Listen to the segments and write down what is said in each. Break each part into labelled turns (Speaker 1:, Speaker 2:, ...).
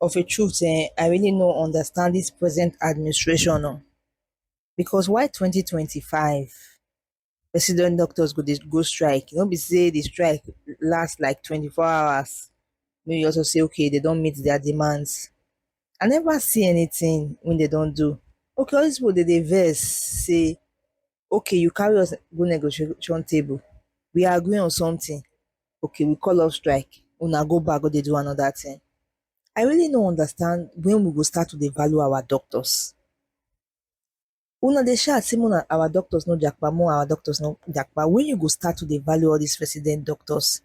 Speaker 1: of a truth eh, I really no understand this present administration oh. Because why 2025 resident doctors go dey go strike? No be say the strike last like 24 hours. Make you also say okay, they don meet their demands. I never see anything when they don do. Okay, all these people dey dey vex say okay you carry us go negotiation table we agree on something okay we call off strike una go back go dey do another thing i really no understand when we go start to dey value our doctors una dey shout say una our doctors no japa more our doctors no japa when you go start to dey value all these resident doctors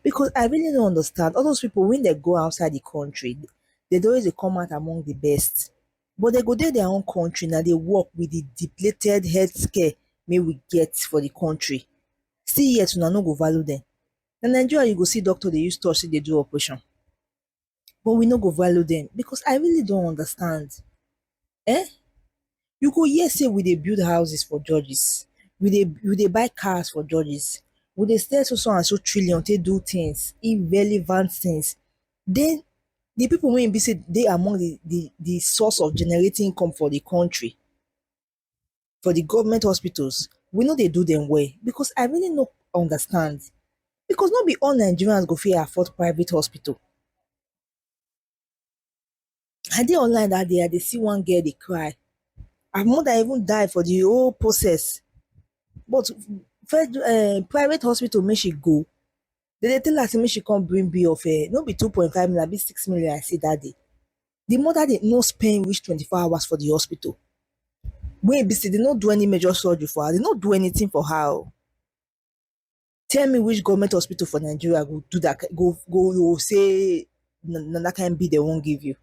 Speaker 1: because I really don't understand all those people when they go outside the country, they don't always come out among the best. But they go there their own country now they work with the depleted healthcare may we get for the country. See yet una no go value them. Na Nigeria you go see doctor they use touch say they do operation. but we no go value dem because I really don't understand um you go hear say we dey build houses for judges we dey we dey buy cars for judges we dey spend so so and so trillion take do things irrelevant things then the people wey e be say dey among the the the source of generating income for the country for the government hospitals, we no dey do them well because I really no understand because no be all Nigerians go fit afford private hospital. I dey online that day, I dey see one girl dey cry. Her mother even die for the whole process. But fed, uh, private hospital make she go. They dey tell her say make she come bring bill of um no be two point five million abi six million I see that day. The mother dey no spend reach twenty four hours for the hospital wey e be say dey no do any major surgery for her, dey no do anything for her oh. Tell me which government hospital for Nigeria go do that kain go go go say na that kain bill dey wan give you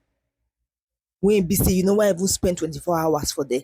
Speaker 1: wey e be say you no wan even spend twenty four hours for there.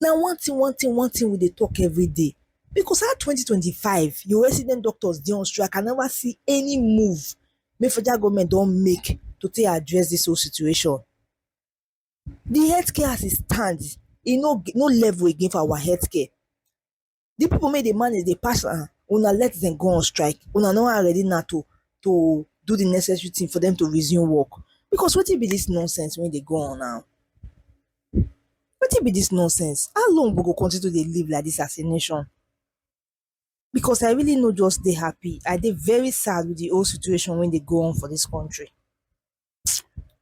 Speaker 1: Na one thing one thing one thing we dey talk everyday because how twenty twenty five your resident doctors dey on strike I never see any move wey federal government don make to take address this whole situation the health care as e stand e no no level again for our health care the people may dey manage dey pass am una let them go on strike una no are ready now to to do the necessary thing for them to resume work because what wetin be this nonsense when they go on now What wetin be this nonsense how long we go continue to dey live like this as a nation because I really no just dey happy I dey very sad with the whole situation when they go on for this country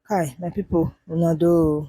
Speaker 1: kai my people una do o.